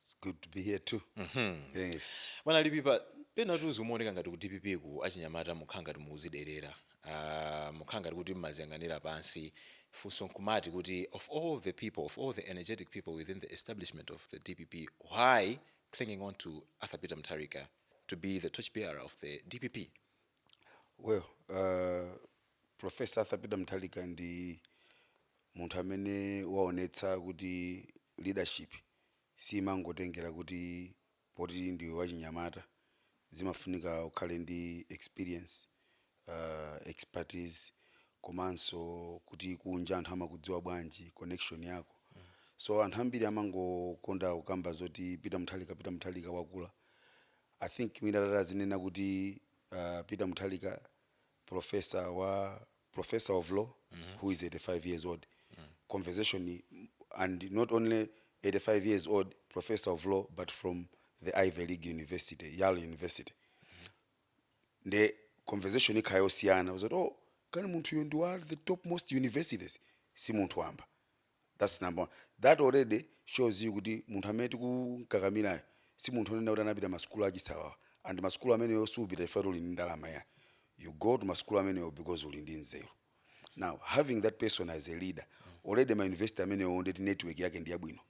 It's good to be here too. Yes. bwana lipipa pena tu zimaoneka ngati ku dpp ku achinyamata mumakhala ngati mukudziderera uh, mumakhala ngati kuti mumadziyang'anira pansi funso nkumati kuti of all the people of all the energetic people within the establishment of the dpp why clinging on to arthur peter mutharika to be the torch bearer of the dpp Well, uh, Professor Arthur Peter Mutharika ndi munthu amene waonetsa kuti leadership siimangotengera kuti poti ndiwe wachinyamata, zimafunika ukhale ndi experience, expertise komanso kuti kunja anthu amakudziwa bwanji, connection yako. So anthu ambiri amangokonda kukamba zoti Peter Mutharika, Peter Mutharika wakula. I think mwina atati azinena kuti Peter Mutharika Professor wa Professor of Law who is 85 years old conversation and not only 85 years old Professor of Law but from the Ivy League University, Yale University nde conversation ikhala yosiyana zoti oh kani munthuyo ndi wa the top most universities si munthu wamba that's number one that already shows you kuti munthu amene tikumkakamilayo si munthu onena kuti anapita masukulu achisawawa and masukulu ameneyo supita chifukwa uli ndi ndalama ayi you go to masukulu ameneyo because uli ndi nzeru now having that person as a leader already ma university amenewo ndeti network yake ndi yabwino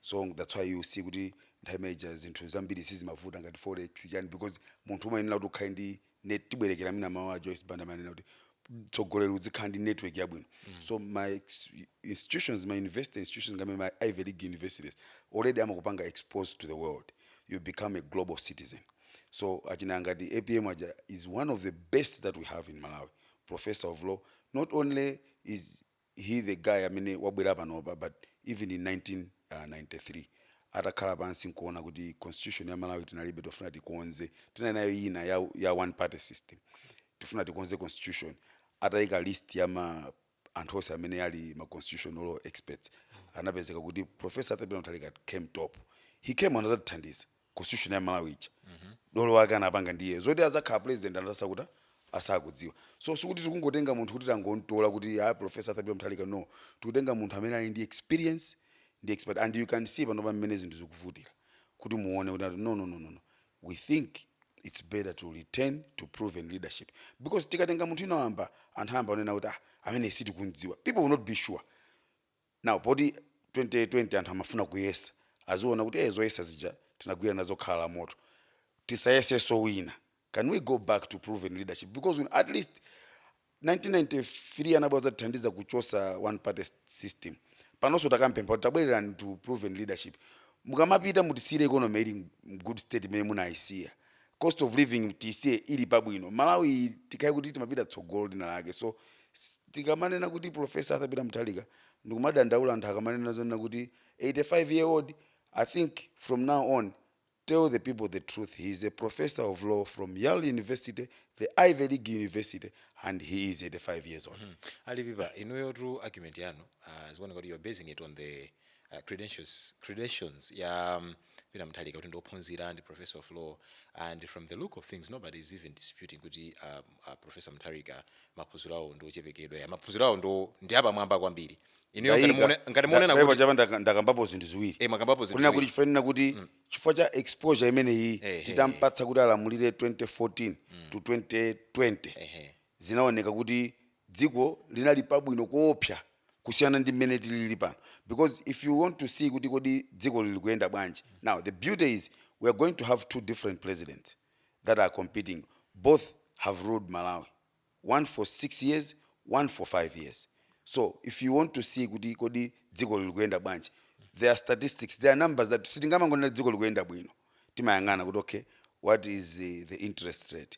so that's why you see kuti nthawi imeneja zinthu zambiri sizimavuta ngati forex chani because munthu umayenera kuti ukhale ndi net tibwerekere mwina mawu a joyce banda amanena kuti mtsogoleri udzikhala ndi network yabwino so ma ex- institutions ma university institutions ngati amene ma ivy league universities already amakupanga exposed to the world you become a global citizen so achina ngati apm aja is one of the best that we have in malawi professor of law not only is he the guy amene wabwera panopa but even in 1993 atakhala pansi nkuona kuti constitution ya malawi tinalibe tikufuna tikonze tinali nayo yina ya, ya one party system tikufuna tikonze constitution atayika list ya ma anthu onse amene ali ma constitutional law experts anapezeka kuti professor arthur peter mutharika came top he came anazatithandiza constitution ya malawi ija dolo wake anapanga ndiye zoti adzakhala president anali asakuta asakudziwa so sikuti tikungotenga munthu kuti tangomtola kuti a professor arthur peter mutharika no tikutenga munthu amene ali ndi experience ndi expert and you can see panopa mmene zinthu zikuvutira kuti muone kuti ati, no no no no no we think it's better to return to proven leadership because tikatenga munthu wina wamba anthu ayamba kunena kuti ah amene sitikumdziwa people will not be sure Now poti 2020 anthu amafuna kuyesa aziona kuti ee zoyesa zija tinagwira nazo khala la moto tisayesenso wina can we go back to proven leadership because we, at least 1993 anabwera adzatithandiza kuchosa one party system panonso takampempha kuti tabwererani to proven leadership mukamapita mutisiyire economy ili m- good state imene munayisiya cost of living mutisiye ili pabwino malawi iyi tikhale kuti tikupita tsogolo lina lake so s- tikamanena kuti profesa arthur peter mutharika ndikumadandaula anthu akamanena zonena kuti 85 year old i think from now on tell the people the truth he is a professor of law from yale university the ivy league university and he is 85 years old a lipipa inuyotu argument yanu uh, zikuoneka kuti you're basing it on the credentials ya Peter Mutharika kuti ndi ophunzira ndi professor of law and from the look of things nobody is even disputing kuti uh, uh, professor Mutharika maphunziro awo ndi ochepekedwa ya maphunziro awo ndo ndi apamwamba kwambiri inuyo ngati Ndayika. muone- ngati muonena Ndaipa kuti chapa ndaka- ndakambapo zinthu ziwiri eh mwakambapo zinthu kunena kuti ziwiri. chifanira kuti chifukwa cha exposure imeneyi Ehe. titampatsa kuti alamulire 2014 to 2020 ehe zinaoneka kuti dziko linali pabwino koopsa kusiyana ndi mmene tilili pano because if you want to see kuti kodi dziko lili kuyenda bwanji now the beauty is we are going to have two different presidents that are competing both have ruled malawi one for six years one for five years so if you want to see kuti kodi dziko lili kuyenda bwanji there are statistics there are numbers that sitingamangonena dziko likuyenda bwino timayang'ana kuti okay what is the, the interest rate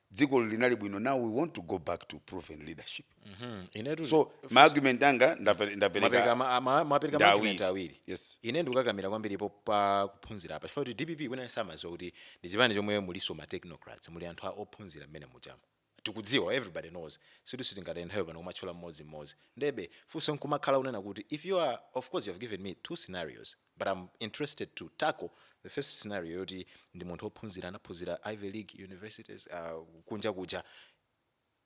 dzikoli linali bwino now we want to go back to proven leadership Mhm. inetu so ma argument anga ndape- ndapereka mapereka ma- ama- mapereka Ndi maargument awiri. awiri Yes. ine ndikukakamira kwambiri po- pa kuphunzira apa chifukwa kuti dpp wina samaziwa kuti ndi chipani chomwe muliso ma technocrats muli anthu a- ophunzira mmene muchama tikudziwa everybody knows situ sitingataye nthawi pano kumatchula mmodzi mmodzi ndebe funso nkumakhala kunena kuti if you are of course you have given me two scenarios But am interested to tackle the first scenario yoti ndi munthu ophunzira anaphunzira ivy league universities uh, kunja kuja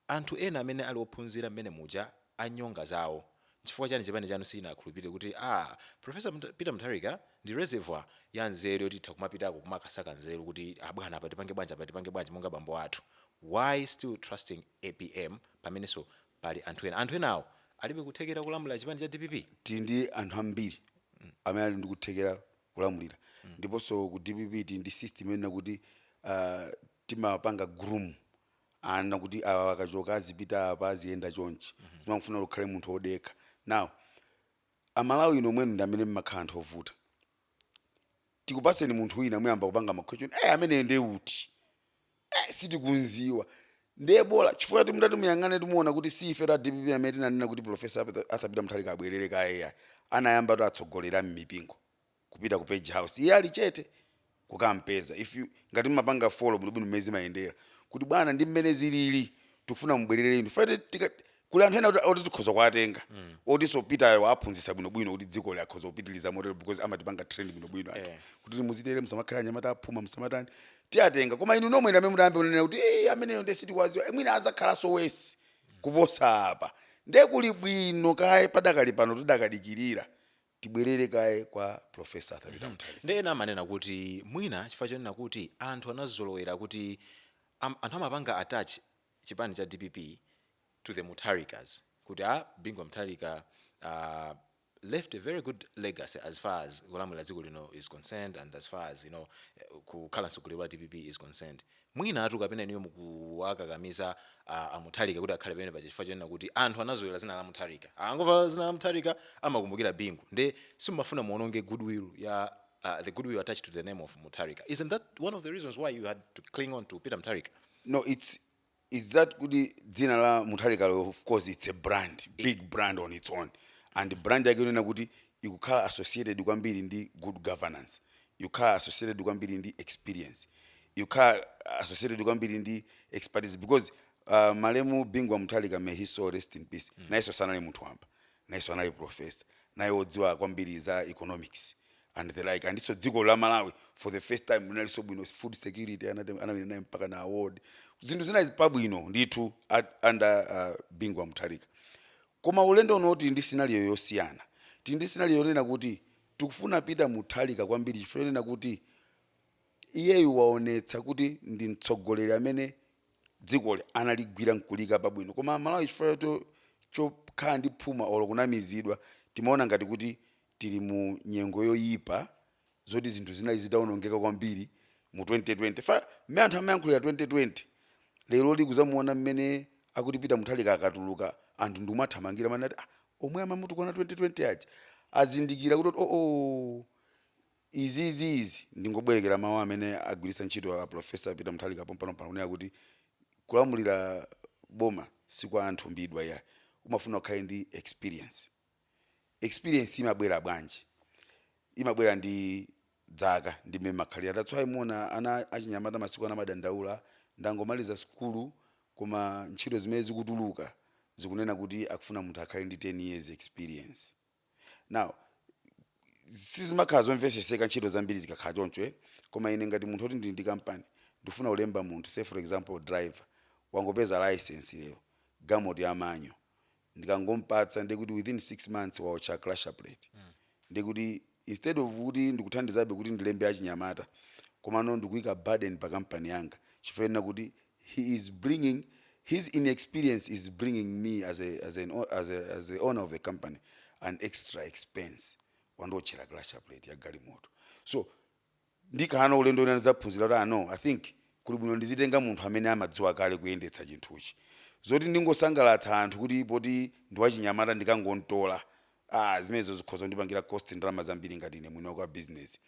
anthu ena amene ali ophunzira mmene muja anyonga anzawo nchifukwa chani chipani chanu sichinakhulupirire kuti a ah, professor Mta, peter mutharika ndi reservoir ya nzeru yoti itha kumapitako kumakasaka nzeru kuti abwana ah, apa tipange bwanji apa tipange bwanji monga bambo athu why still trusting apm pamenenso Pali anthu ena. Anthu enawo alibe kuthekera kulamulira chipani cha dpp? Tili ndi anthu ambiri amene ali ndi kuthekera kulamulira ndiponso ku dpp tili ndi system yonena kuti timapanga groom ana kuti awa akachoka azipita apa aziyenda chonchi. Zimangofuna kuti ukhale munthu odekha. Now a Malawi inu nomwenu ndi amene mmakhala anthu ovuta. Tikupatseni munthu wina muyamba kupanga ma question, eh ameneyo ndiye uti? Eh sitikumdziwa ndiye bola chifukwa choti mutati muyang'anetu muona kuti si ifetu a DPP amene tinanena kuti Prof. Arthur Peter Mutharika abwerere iyayi. Anayambatu atsogoleri a mmipingo kupita ku page house iye ali chete kukampeza if ngati mmapanga follow bwinobwino mmene zimayendera kuti bwana ndi mmene zilili tikufuna mubwerere inu chifukwa tikat. kuli anthu ena oti- oti tikhoza kuwatenga otinso Peter waphunzitsa bwinobwino kuti dziko likhoza kupitiliza motero because amatipanga train bwinobwino anthu kuti muzitere musamakhala anyamata aphuma musamatani tiwatenga koma inu nomwe ndamene mutayambe kunena kuti "Eh, ameneyo nde sitikumdziwa Eh, mwina adzakhalanso worse kuposa apa nde kuli bwino kaye padakali pano tidakadikirira tibwerere kaye kwa Prof. Arthur Peter Mutharika nde ena amanena kuti mwina chifukwa chonena kuti anthu anazolowera kuti am, anthu amapanga attach chipani cha DPP to the Mutharikas kuti a Bingu wa Mutharika aah left a very good legacy as far as kulamulira dziko lino is concerned and as far as you know kukhala mtsogoleri wa DPP is concerned. Mwinatu kapena inuyo mukuwakakamiza a Mutharika kuti akhale pamene paja chifukwa chonena kuti anthu anazolowera dzina la Mutharika akangomva dzina la Mutharika amakumbukira Bingu nde simumafuna muononge good will ya the good will attached to the name of Mutharika isn't that one of the reasons why you had to cling on to Peter Mutharika? No it's it's that kuti dzina la Mutharikalo of course it's a brand, big brand on its own and brand yake yonena kuti ikukhala associated kwambiri ndi good governance, ikukhala associated kwambiri ndi experience, ikukhala associated kwambiri ndi expertise because malemu Bingu wa Mutharika may his soul rest in peace nayenso sanali munthu wamba. nayenso anali professor naye odziwa kwambiri za economics and the like andinso dziko la Malawi for the first time linalinso bwino food security anate- anawina naye mpaka na award zinthu zinali pabwino ndithu at- under uh, Bingu wa Mutharika koma ulendo uno tili ndi scenario yosiyana tili ndi scenario yonena kuti tikufuna Peter Mutharika kwambiri chifukwa chonena kuti iyeyu waonetsa kuti ndi mtsogoleri amene dzikoli analigwira nkuliika pabwino koma Amalawi chifukwa chokhala ndi phuma olo kunamizidwa timaona ngati kuti tili mu nyengo yoyipa zoti zinthu zinali zitaonongeka kwambiri mu 2020 fa mmene anthu amayankhulira 2020 leroli kudzamuona mmene akuti Peter Mutharika akatuluka anthu ndi kumamuthamangira mwati ah, omwe amamutukwana 2020 aja azindikira kuti oo Izi izi izi ndingobwerekera mawu amene agwiritsa ntchito a Prof. Peter Mutharika pompanompano kunena kuti kulamulira boma si kwa anthumbidwa iyayi, umafuna ukhale ndi experience. Experience imabwera bwanji? Imabwera ndi zaka ndi mmene mmakhalira that's why muona ana achinyamata masiku ano amadandaula, ndangomaliza sukulu koma ntchito zimene zikutuluka zikunena kuti akufuna munthu akhale ndi 10 years experience. Now, sizimakhala zomveseseka ntchito zambiri zikakhala choncho eh koma ine ngati munthu oti ndili ndi company ndikufuna kulemba munthu say for example driver wangopeza licence lero galimoto ya manyo ndikangompatsa ndiye kuti within 6 months waotcha clutch plate ndiye kuti instead of kuti ndikuthandizabe kuti ndilembe achinyamata komano ndikuika burden pa company yanga chifukwa chonena kuti he is bringing his inexperience is bringing me as a as an as a, as the owner of the company an extra expense wandiotchera clutch plate ya galimoto so ndikakhala na ulendo ina ndidzaphunzira kuti ah no i think kuli bwino ndizitenga munthu amene amadziwa kale kuyendetsa chinthuchi zoti ndingosangalatsa anthu kuti poti ndiwachinyamata ndikangontola ah zimenezo zikhoza kundipangira cost ndalama zambiri ngati ine mwini wa business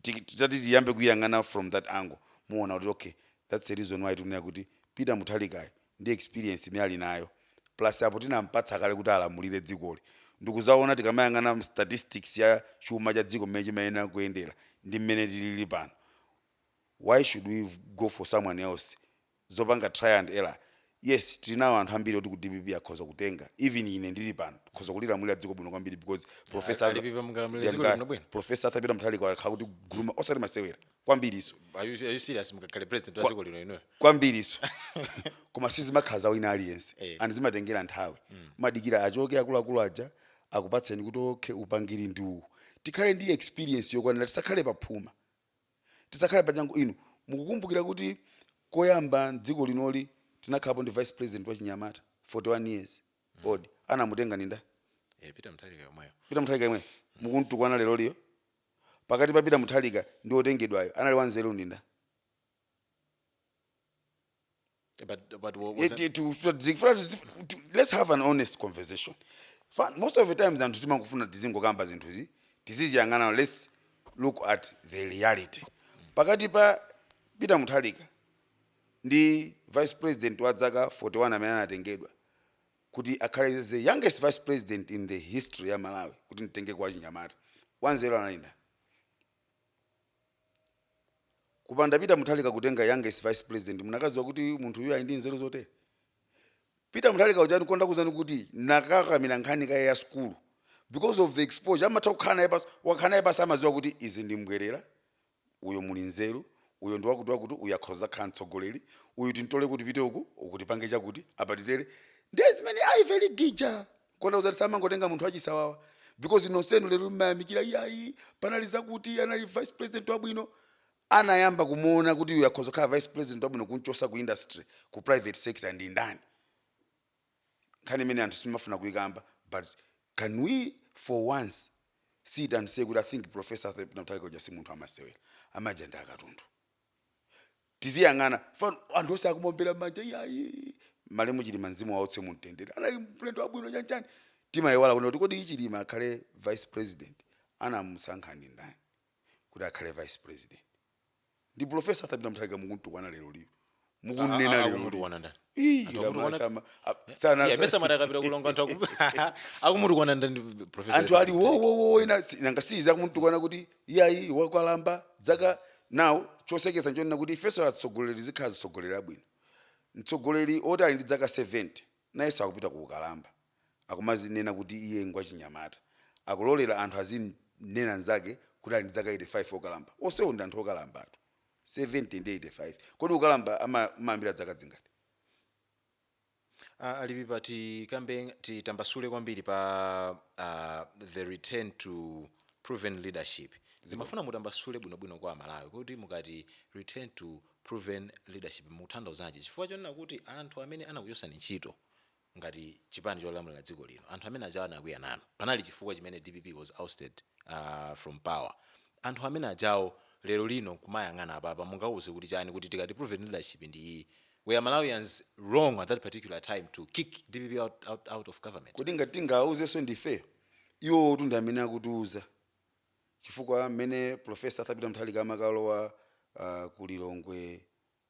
tiki- titati tiyambe kuyang'ana from that angle muona kuti okay that's the reason why tikunena kuti peter Mutharikayo ndi experience imene ali nayo plus apo tinampatsa kale kuti alamulire dzikoli ndikuzaona tikamayang'ana statistics ya chuma cha dziko mmene chimayenera kuyendera ndi mmene tilili pano why should we go for someone else zopanga trial and error yes tili nawo anthu ambiri oti ku dpp akhoza kutenga even ine ndili pano tikhoza kulilamulira dziko bwino kwambiri because professor Arthur- ndipo mungalamulire dziko Ndiyamika- bwinobwino. professor Arthur Peter Mutharika wakhala akutigruma osati masewera kwambiriso Are you, are you serious mkakhale president wa dziko lino inuyo kwambiriso koma sizimakhala za wina aliyense Eh. and zimatengera nthawi madikira achoke akuluakulu aja akupatseni kuti okay upangiri ndi uwu tikhale ndi experience yokwanira tisakhale paphuma tisakhale pa changu inu mukukumbukira kuti koyamba mdziko linoli tinakhalapo ndi vice president wachinyamata 41 years old anamutenga ndi nda Eh, Peter Mutharika yemweyo. Peter Mutharika yemwe mukumutukwana leroliyo pakati pa Peter Mutharika ndi otengedwayo anali wanzeru ndi nda But but what was it? it, to, so to, for us to- to- let's have an honest conversation Fa- most of the times anthu timangofuna tizingokamba zinthuzi tiziziyang'ana let's look at the reality pakati pa peter Mutharika ndi vice president wa dzaka 41 amene anatengedwa kuti akhale the youngest vice president in the history ya malawi kuti nditenge kwa chinyamata wanzeru anali nda kupanda peter Mutharika kutenga youngest vice president munakaziwa kuti munthu uyu ali ndi nzeru zotere peter Mutharika uja nkona ndakuuzani kuti ndakakamira nkhani kaye ya skulu because of the exposure amatha kukhala naye pasi wakhala naye pasi amaziwa kuti izi ndi mbwerera uyo muli nzeru uyo ndi wakuti wakuti uyo akhoza kukhala mtsogoleri uyu tintole kuti tipite uku uku tipange chakuti apa titere ndiye zimene ayi very gija kutanthauza kuti samangotenga munthu wachisawawa because nonsenu lero mmayamikira iyayi panali zakuti anali vice president wabwino anayamba kumuona kuti uyu akhoza kukhala vice president wabwino kumchosa ku industry ku private sector ndi ndani nkhani imene anthu simafuna kuyikamba but can we for once sit and say kuti i think professor Arthur Peter Mutharika uja si munthu wamasewera amaja ndi akatundu tiziyang'ana pano anthu onse akumombera mmanja iyayi malemu chilima mzimu wawo uwutse mu mtendere anali mlendo wabwino chanchani timayiwala kunena kuti kodi chilima akhale vice president anamusankha ndi ndani kuti akhale vice president ndi profesa arthur peter muthalika mukumtukwana lero liyo mukunena lero akumutukwana ndani Ii, Anthu koma akutukwana- sama- a- sana- Yeah, mesa mara akapita kulonga anthu akumu- akumutukwana ndani professor anthu ali wowowo ina si- nanga siyiza akumutukwana kuti iyayi wakalamba dzaka now chosekesa nchonena kuti ifenso atsogoleri tizikhala tizitsogolera bwino mtsogoleri oti ali ndi dzaka 70 nayenso akupita ku ukalamba akumazinena kuti iye ngwachinyamata akulolera anthu azimnena nzake kuti ali ndi dzaka 85 okalamba onsewo ndi anthu okalambatu 70 ndi 85 kodi ukalamba ama- amayambira dzaka dzingati Ah, a lipipa tikambe titambasule kwambiri pa ah, the return to proven leadership ndimafuna mutambasule bwinobwino kwa amalawi kuti mukati return to proven leadership mutanthauzanji chifukwa chonena kuti anthu amene anakuchosani ntchito ngati chipani cholamulira dziko lino anthu amene ajawa anakwiya nanu panali chifukwa chimene dpp was ousted from power anthu amene ajawo lero lino nkumayang'ana apapa mungauze kuti chani kuti tikati proven leadership ndi iyi were malawians wrong at that particular time to kick dpp out, out, out of government? kodi ngati tingawauzenso ndifeyo iwowotu ndi amene akutiuza chifukwa mmene professor arthur peter muthalika amakalowa uh, ku lilongwe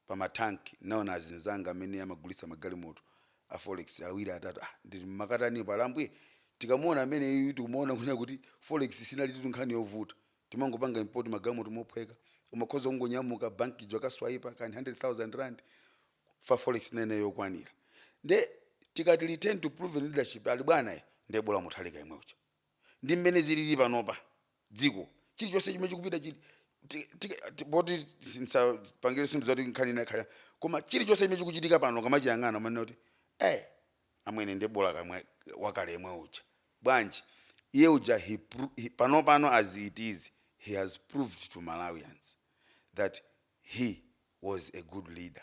pa matanki nnaona azinzanga amene amagulitsa magalimoto a forex awiri atatu ah nditi mmakatanipo ali ambuye tikamuona ameneyuyu tikumaona kunena kuti forex sinalitu nkhani yovuta timangopanga import magalimoto mophweka umakhoza kungonyamuka bank ija ukaswaipa kani 100000 rand chifukwa forex inali yokwanira nde tikati return to proven leadership ali bwana ayi nde bola muthalika yemwe uja Ndi mmene ziliri panopa, dziko, chirichonse chimene chikupita chiri, ti, ti, ti, poti sindisapangire zinthu zoti nkhani ina ikhale, koma chirichonse chimene chikuchitika pano ukamachiyang'ana umanena kuti, eh, amwene ndiye bola kamwe, wakale yemwe uja. Bwanji? Iye uja he, pro, he panopano as it is he has proved to Malawians that he was a good leader.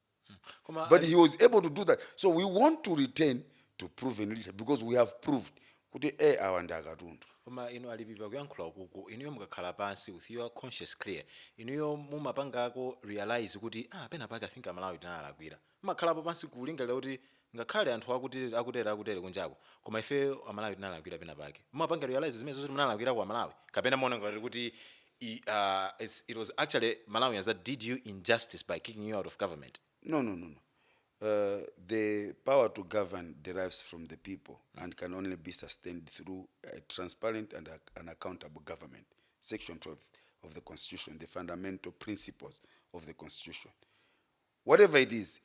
koma but he was able to do that so we want to return to proven leadership because we have proved kuti e awa ndi akatundu koma inu a lipipa kuyankhula ukuku inuyo mukakhala pansi with your conscious clear inuyo mumapangako realize kuti ah pena pake i think amalawi tinalakwira mumakhalapo pansi kulingalira kuti Ngakhale anthu akutere akutere kunjako koma ife amalawi tinalakwira pena pake. Mumapanga realise zimenezo zoti munalakwirako amalawi? Kapena mumaona ngati kuti aah its it was actually malawians that did you injustice by kicking you out of government? No no no no aah the power to govern derives from the people and can only be sustained through a transparent and an accountable government section 12 of the constitution the fundamental principles of the constitution. whatever it is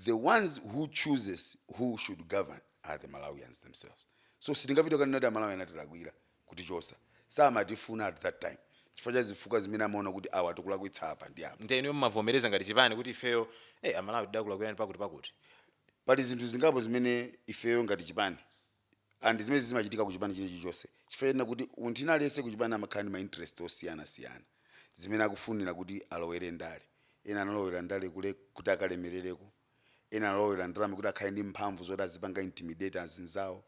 the ones who chooses who should govern are the malawians themselves so sitingapite kukanena kuti amalawi anatilakwira kutichosa samatifuna at that time chifukwa cha zifukwa zimene amaona kuti awa akutilakwitsa apa ndi apa nde inuyo mumavomereza ngati chipani kuti ifeyo eh, amalawi tidakulakwirani pakuti pakuti pali zinthu zingapo zimene ifeyo ngati chipani and zimene zimachitika ku chipani china chilichonse chifukwa choti munthu ina aliyense ku chipani amakhala ndi ma interest osiyanasiyana zimene akufunira kuti alowere ndale ena analowera ndale kule kuti akalemerereko ena analowera ndale kuti akhale ndi mphamvu zoti azipanga intimidate azinzawo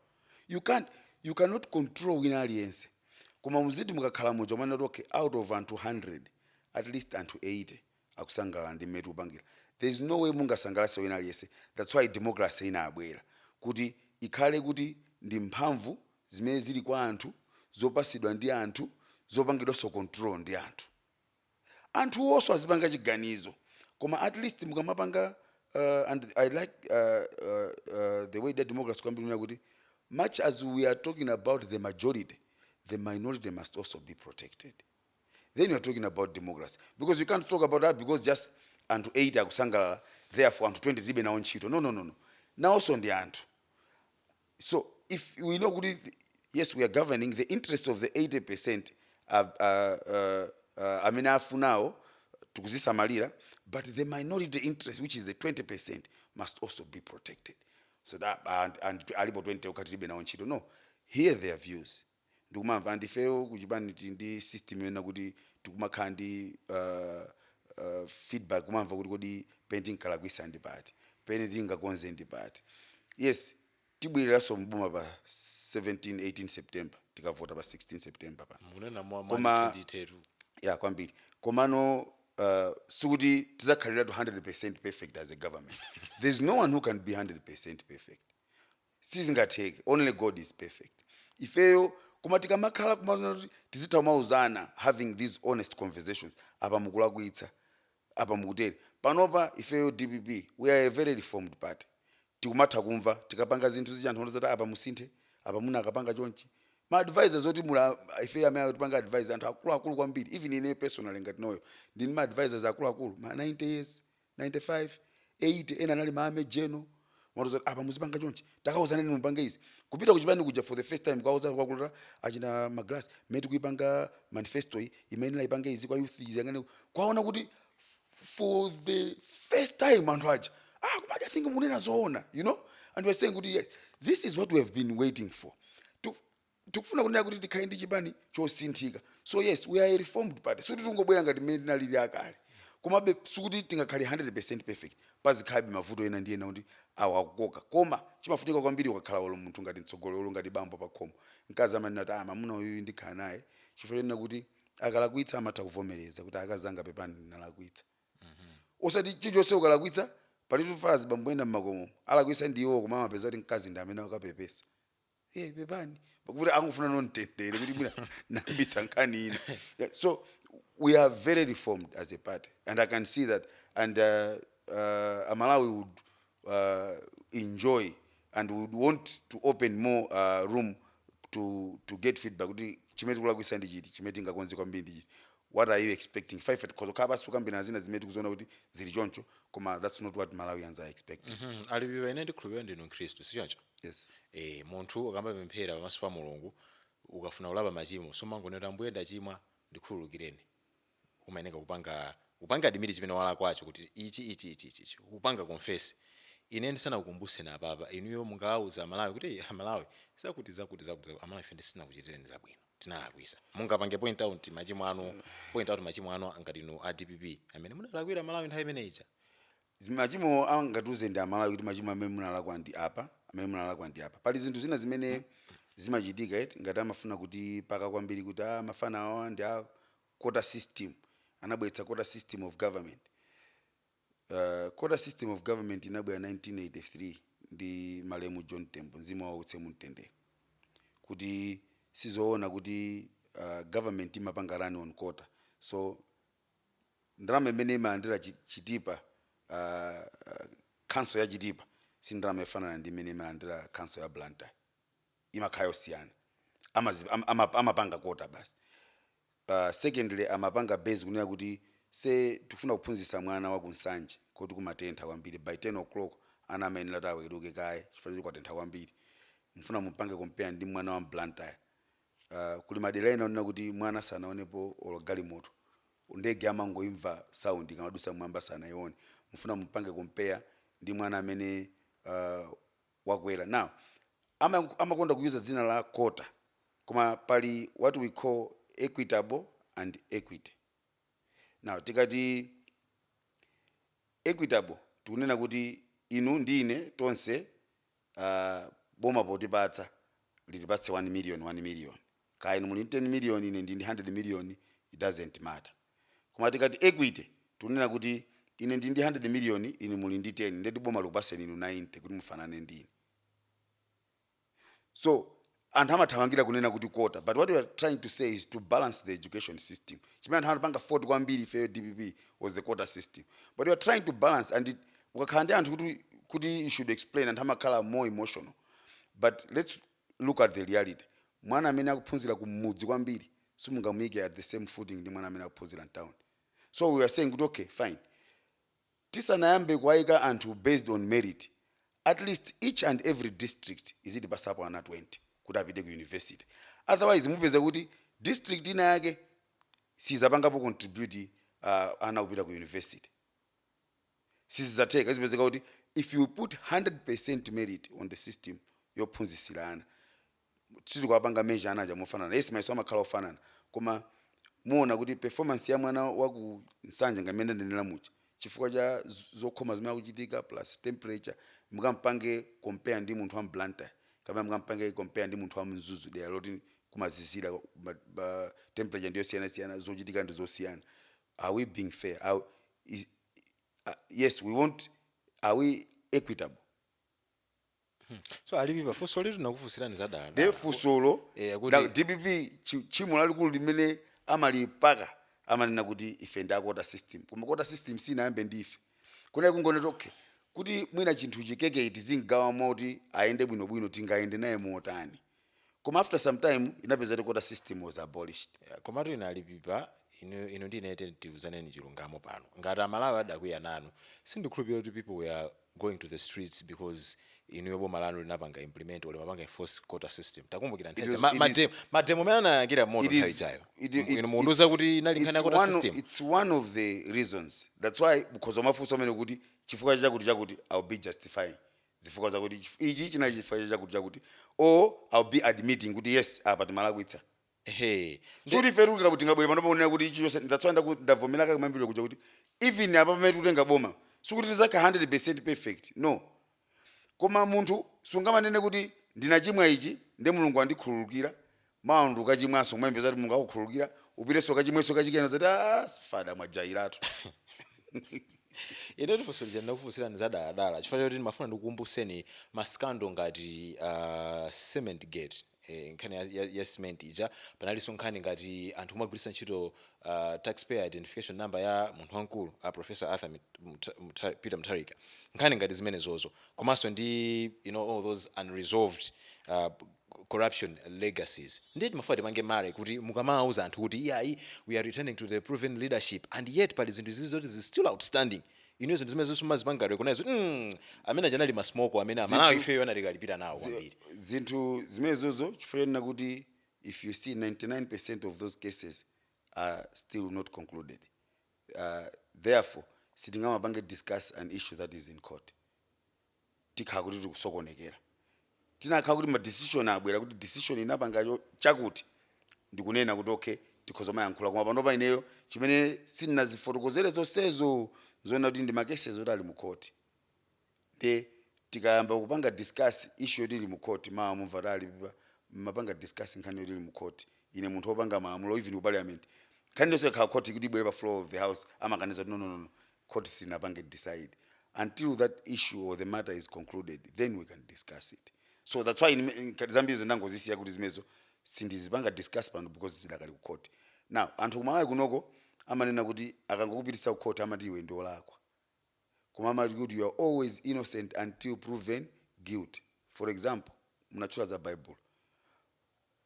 you cannot control wina aliyense koma muziti mukakhala muja umanena kuti okay out of anthu 100 at least anthu 80 akusangalala ndi mmene tikupangira there is no way mungasangalatse wina aliyense that's why democracy inabwera kuti ikhale kuti ndi mphamvu zimene zili kwa anthu zopasidwa ndi anthu zopangidwanso control ndi anthu anthu onse azipanga chiganizo koma at least mukamapanga uh, and i like uh, uh, uh, the way that democracy kwambiri kuti much as we are talking about the majority the minority must also be protected then you're talking about democracy because you can't talk about ah, because just anthu 8 akusangalala therefore anthu 20 tilibe nawo ntchito no no no no nawonso ndi anthu so if we know kuti th- yes we are governing the interest of the 80 percent uh, uh, uh, uh, amene afunawo tikuzisamalira but the minority interest which is the 20 percent must also be protected so that and, and alipo 20 okhatiribe nawo ntchito no hear their views ndikumamva and ifeyo kuchipani tili ndi system yonena kuti tikumakhala ndi uh, uh, feedback kumamva kuti kodi pene tinkalakwisa ndi pati pene tingakonze ndi pati yes tibwereranso mboma pa 17 18 september tikavota pa 16 september apa mukunena mwa ntheradi kwambiri komano uh, sikuti tizakhaliratu 100% perfect as a government there's no one who can be 100% perfect sizingatheke only God is perfect ifeyo koma tikamakhala kuti tizitha kumauzana having these honest conversations apa mukulakwitsa apa mukutere panopa ifeyo dpp we are a very reformed party tikumatha kumva tikapanga zinthu zija zoti apa musinthe apa muna akapanga chonchi ma advisors oti mula ifeyo amene akutipanga advise anthu akuluakulu kwambiri even ine personally ngati Noel ndili ndi ma advisors akuluakulu ma 90 years 95, 80 ena anali ma major general, amatiuza kuti apa muzipanga chonchi, takauzaneni mupange izi, kupita kuchipani kuja for the first time kuwauza akuluakulu achina Magilasi mmene tikuipanga manifestoyi imayenera ipange izi kwa youth iyang'ane ku-" kwaona kuti f- for the first time anthu aja kumati I think munena zoona you know and we are saying kuti yes this is what we have been waiting for tikufuna kunena kuti tikhale ndi chipani chosinthika so yes we are a reformed party sikuti tingobwera ngati mmene tinalili akale komabe sikuti tingakhale 100 perfect pazikhalabe mavuto ena ndi ena kuti awa akukoka koma chimafunika kwambiri ukakhala olo munthu ngati mtsogoleri olo ngati bambo pakhomo mkazi amanena kuti ah mamuna uyuyu ndikhala naye chifukwa chonena kuti akalakwitsa amatha kuvomereza kuti akazi anga pepani ndinalakwitsa osati chilichonse ukalakwitsa alitu pali azibambo ena mmakomo alakwitsa ndi iwo koma amapeza kuti mkazi ndi amene ukapepesa Eh, pepani pakuti angofuna ndi mtendere kuti mwina nambisa nkhani ina Yeah, so we are very reformed as a party and i can see that and uh, uh, amalawi would uh, enjoy and would want to open more uh, room to, to get feedback kuti chimene tikulakwisa ndi chiti chimene tingakonze kwambiri ndi chiti what are you expecting ife tikhoza kukhala pansi kukambirana zina zimene tikuziona kuti zili choncho koma that's not what malawians are expecting Mhm. alibiwa ine ndikhulupirira ndinu mkhristu sichoncho yes e, munthu ukamapemphera pamaso pa mulungu ukafuna kulapa machimo sumangonena ambuye ndachimwa ndikhululukireni umayeneka kupanga kupanga admit chimene walakwacho kuti ichi ichi ichi ichi ichi kupanga confess ine ndisanakukumbuseni apapa inuyo mungawauza amalawi kuti "Ei, amalawi zakuti zakuti zakuti zakuti, amalawi ife sitinakuchitireni zabwino tinalakwisa mungapange point out machimo anu point out machimo anu ngati inu a dpp amene munalakwira amalawi nthawi imene ija Zi- machimo angatiuze ndi amalawi kuti machimo amene munalakwa ndi apa amene munalakwa ndi apa pali zinthu zina zimene zimachitika eti ngati amafuna kuti paka kwambiri kuti ah, mafana awa ndi a quota system anabweretsa quota system of government Uh, quota system of government inabwera 1983 ndi malemu John Tembo mzimu wawo uwutse mumtendere kuti si zoona kuti uh, government imapanga run on quota so ndalama imene imalandira chi- chitipa uh, uh, council ya chitipa si ndalama yofanana ndi imene imalandira council ya blantyre imakhala yosiyana amazi am, ama, amapanga quota basi uh, secondly amapanga base kunena kuti say tikufuna kuphunzitsa mwana wa kunsanje koti kumatentha kwambiri by 10 o'clock ana amayenera kuti aweruke kaye chifukwa choti kwatentha kwambiri mfuna mumpange compare ndi mwana wa mblantyre uh, kuli madera ena onena kuti mwana sanaonepo olo galimoto ndege amangoimva sound ikamadusa mwamba sanaione mfuna mumpange compare ndi mwana amene uh, wakwera now ama amakonda kuyuza dzina la quota koma pali what we call equitable and equity now tikati equitable tikunena kuti inu ndi ine tonse uh, boma potipatsa litipatse 1 million 1 million kaya inu muli ndi 10 million ine ndili ndi 100 million it doesn't matter koma tikati equity tikunena kuti ine ndili ndi 100 million inu muli ndi 10 ndeti boma likupaseni inu 90 kuti mufanane ndi ine so anthu amathamangira kunena kuti quota but what we are trying to say is to balance the education system chimene anthu anapanga fault kwambiri ifeyo dpp was the quota system but we are trying to balance and it- ukakhala ndi anthu kuti kuti you should explain anthu amakhala more emotional but let's look at the reality mwana amene akuphunzira kumudzi kwambiri simungamuyike at the same footing ndi mwana amene akuphunzira mtown so we are saying kuti okay fine tisanayambe kuwayika anthu based on merit at least each and every district izitipatsapo ana 20 kuti apite ku university otherwise mupeza kuti district ina yake sizapangapo contribute uh, ana kupita ku university sizidzatheka izipezeka kuti if you put 100% merit on the system yophunzisira ana sitikawapanga measure ana aja mofanana yes mayeso amakhala ofanana koma muona kuti performance ya mwana wa ku nsanje ngati mmene ndanenera muja chifukwa cha z- zokhoma zimene zikuchitika plus temperature mukampange compare ndi munthu wa mblantyre kapena mukampange compare ndi munthu wa mzuzu dera loti kumazizira ma- ma- temperature ndi yosiyanasiyana zochitika ndi zosiyana are we being fair are, is, uh, yes we want are we equitable so alipipa funsolitu ndakufunsirani dala nde funsolo Eh, akuti- na dpp chi- tchimo lalikulu limene amatipaka amanena kuti ife ndi a quota system koma quota system sinayambe ndi ife kunali kungoona kuti okay kuti mwina chinthu chi cake tizigawa moti ayende bwinobwino tingayende naye motani koma after some time inapezeka kuti quota system was abolished Yeah, komatu inu alipipa inu inu ndi ine tiyeni tiuzane chilungamo pano ngati amalawi adakwiya nanu sindikhulupirira kuti people were going to the streets because inuyo boma lanu linapanga implement or limapanga enforce quota system takumbukira It nthawi is- ma- it mademo- is- mademo amene anayakira moto It nthawi is- ijayo it- it- inu mukundiuza it's- kuti inali nkhani ya it's quota one of- system it's one of the reasons that's why because mafunso amene kuti chifukwa chakuti chakuti ill be justifying zifukwa zakuti chif ichi chinali chifukwa cha chakuti chakuti or i'll be admitting kuti yes apa timalakwitsa ehe Nde- sikuti ife tikuti tingabwere pano kunena kuti ichi chonse that's why ndaku- ndavomera kumayambiriro kuja kuti even apa pamene tikutenga boma sikuti tizakhala 100% perfect no koma munthu sungamanene kuti ndinachimwa ichi nde mulungu andikhululukira mawa nde ukachimwanso kumayembekeza kuti mulungu akukhululukira upitenso ukachimwenso kachikena azati "Ah, fada mwajailatu ine funso lija ndinakufunsirani mwadaladala chifukwa choti ndimafuna ndikukumbutseni maskando ngati uh, cement gate eh, nkhani ya, ya, ya cement ija panalinso nkhani ngati anthu kumagwiritsa ntchito uh, taxpayer identification number ya munthu wamkulu a professor arthur Mit- Mta- Mta- peter mutharika nkhani ngati zimenezozo komanso ndi you know all those unresolved uh, corruption legacies ndiye timafuna tipange marry kuti mukamawuza anthu kuti iyayi we are returning to the proven leadership and yet pali zinthu izizi zoti zili still outstanding inuyo zinthu zimenezo simumazipanga recognize kuti mm, amene aja anali masmoko amene amalawi Zinthu- ifeyo anatikalipira nawo Zi- kwambiri zinthu zimenezozo chifukwa chonena kuti if you see 99 percent of those cases are still not concluded uh, therefore sitingamapange discuss an issue that is in court tikhala kuti tikusokonekera. Tinakhala kuti ma decision abwera kuti decision inapanga yo chakuti ndikunena kuti okay tikhoza kumayankhula koma panopa ineyo chimene sindinazifotokozere zonsezo nzoona kuti ndi ma cases oti ali mu court nde tikayamba kupanga discuss issue yoti ili mu court mawa mumva kuti ali pa- mumapanga discuss nkhani yoti ili mu court ine munthu wopanga malamulo even ku parliament nkhani yonse ikakhala court kuti ibwere pa floor of the house amakaniza kuti no no no no court silinapange decide until that issue or the matter is concluded then we can discuss it so that's why ngati zambirizo ndangozisiya kuti zimenezo sindizipanga discuss pano because zidakali ku court now anthu kumalawi kunoko amanena kuti akangokupitisa ku court amati iwe ndi olakwa koma amati kuti you are always innocent until proven guilty for example munatchula za bible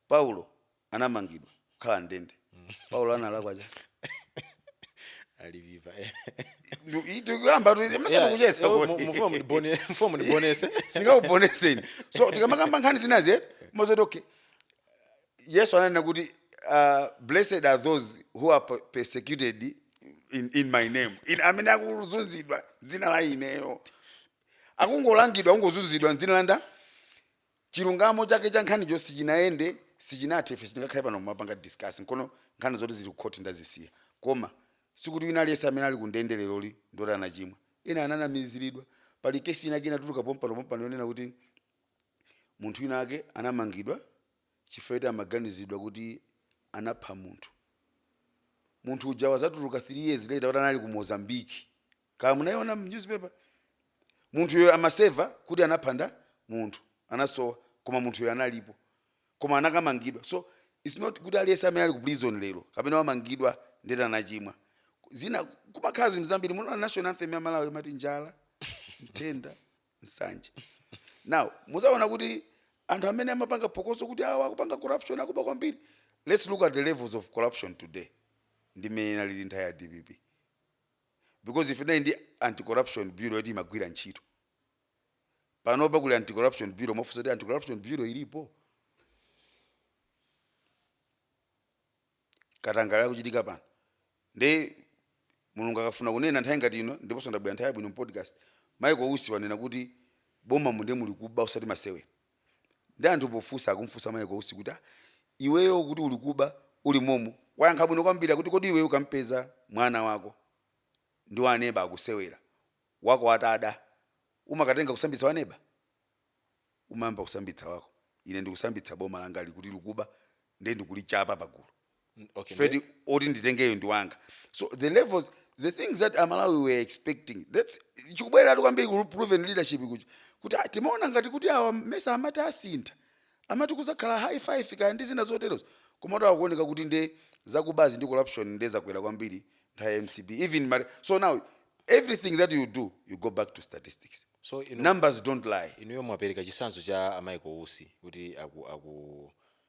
Paulo anamangidwa kukhala m'ndende. Paulo analakwa chani? aliviva eh. Ndu- i- tikuyamba tu- Yeah, masana tikucheza eh, mu- mu- mfumu ndibone- mfumu ndibonese singaubonese so tikamakamba nkhani zinazi eti mozoti okay yesu ananena kuti uh, blessed are those who are per- persecuted in, in my name in, amene akuzunzidwa dzina la ineyo akungolangidwa akungozunzidwa mdzina langa chilungamo chake cha nkhaniyo sichinayende sichinathe ife sitingakhale pano kumapanga discuss nkono nkhani zoti zili ku court ndazisiya koma sikuti wina aliyense amene ali ku ndende leroli ndoti anachimwa ena ananamiziridwa pali kesi inake inatuluka pompano pompano yonena kuti munthu wina ake anamangidwa chifukwa choti amaganizidwa kuti anapha munthu munthu uja wazatuluka 3 years later kuti anali ku mozambique kaya munaiona mu newspaper munthuyo amaseva kuti anapha munthu anasowa koma munthuyo analipo koma anakamangidwa so it's not kuti aliyense amene ali ku prison lero kapena wamangidwa ndeti anachimwa zina kumakhala zinthu zambiri munaona national anthem ya malawi imati njala nthenda nsanje now muzaona kuti anthu amene amapanga phokoso kuti awa akupanga corruption akuba kwambiri let's look at the levels of corruption today ndi mmene inalili nthawi ya dpp because ife tinali ndi anti corruption bureau yoti imagwira ntchito panopa kuli anti corruption bureau mwafunsa kuti anti corruption bureau ilipo katangale akuchitika pano nde mulungu akafuna kunena nthawi ngati ino ndiponso ndabwera nthawi yabwino m'podcast Michael Usi wanena kuti boma mu nde muli kuba usati masewera Nde anthu pofusa akumufusa Michael Usi kuti ah iweyo ukuti uli kuba uli momo wayankha bwino kwambiri kuti kodi iweyo ukampeza mwana wako ndi wa aneba akusewera wako atada umakatenga kusambitsa wa neba? Umayamba kusambitsa wako ine ndikusambitsa boma langali kuti likuba nde ndikulichapa pagulu. N- okay, Feti, nde- oti nditengeyo ndi wanga so the levels the things that aMalawi were expecting that's chikubwereratu kwambiri ku proven leadership kuja kuti ah, timaona ngati kuti awa mesa amati asintha amati kuzakhala high five kaya ndi zina zoterozo komatu akuoneka kuti nde zakubazi ndi corruption nde zakwera kwambiri nthawi ya mcp even mari- so now everything that you do you go back to statistics so inu, numbers don't lie inuyo mwapereka chisanzo cha a Michael Usi kuti aku, aku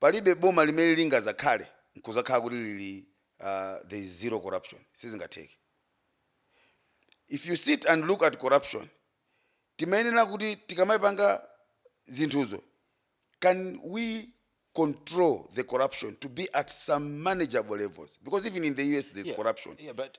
Palibe boma limene lingazakhale nkuzakhala kuti lili there is zero corruption sizingatheke if you sit and look at corruption timayenera kuti tikamaipanga zinthuzo can we control the corruption to be at some manageable levels because even in the US there is yeah, corruption yeah, but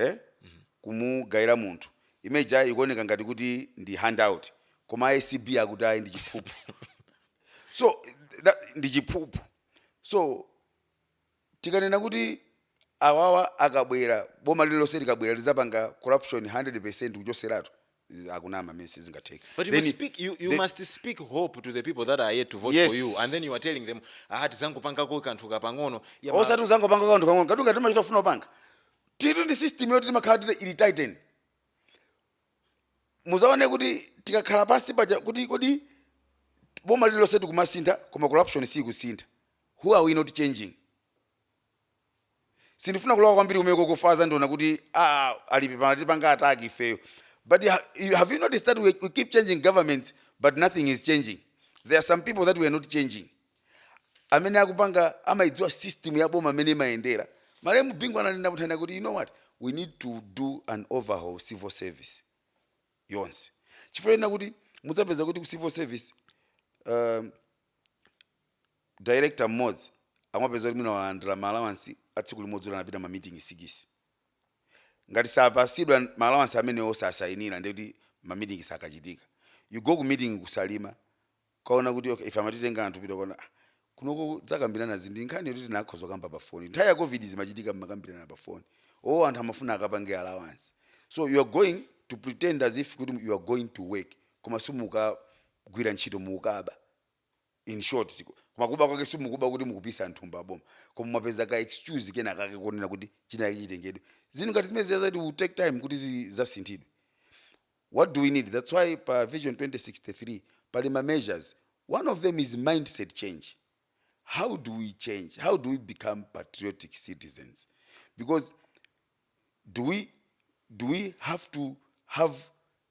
e kumugaila munthu ime ija ikuoneka ngati kuti ndi handout koma a acb akuti ayi ndi chiphuphu so that, ndi chiphuphu so tikanena kuti awawa akabwera boma lililonse likabwera lizapanga corruption 100% kuchoseratu eh, akunama amene sizingatheke But you Then- must speak, you, you then- must speak hope to the people that are yet to vote for you, Yes. and then you are telling them, ah, tizangopangako kanthu kapang'ono. Yeah, ma- osati uzangopanga kanthu kang'ono kati ngati machita kufuna kupanga titu ndi system yoti timakhala tili ili tightened muzaone kuti tikakhala pansi paja kuti kodi boma lililonse tikumasintha koma corruption siyikusintha who are we not changing sindifuna kulowa kwambiri kumeneko chifukwa azandiona kuti ah, ali pano atipanga attack ifeyo but ha- you- have you noticed that we, we keep changing governments but nothing is changing there are some people that we are not changing amene akupanga amaidziwa system ya boma mmene imayendera malemu Bingu ananenako nthawi ina kuti you know what we need to do an overhaul civil service yonse chifukwa ena kuti mudzapeza kuti ku civil service um, Director mmodzi akumapeza kuti mwina walandira ma allowance a tsiku limodzi kuti anapita ma meeting sikisi. Ngati sapasidwa ma allowance amenewo sasayinira ndiye kuti ma meeting sakachitika. You go ku meeting ku Salima kukaona kuti okay ife amatitenga anthu kupita kukaona ah kunoko kudzakambirana zi ndi nkhani yoti tinakhoza kukamba pa phone. Nthawi ya Covid izi zimachitika mmakambirana pa phone. Oh anthu amafuna akapange allowance. So you are going to pretend as if kuti you are going to work koma simukagwira ntchito mukukaba. in short siku- koma kuba kwake simukuba kuti mukupisa nthumba aboma koma mwapeza ka excuse kena kake konena kuti china chake chitengedwe zinthu ngati zimenezo zazati will take time kuti zi- zasinthidwe what do we need that's why pa vision 2063 pali ma measures one of them is mindset change how do we change how do we become patriotic citizens because do we do we have to have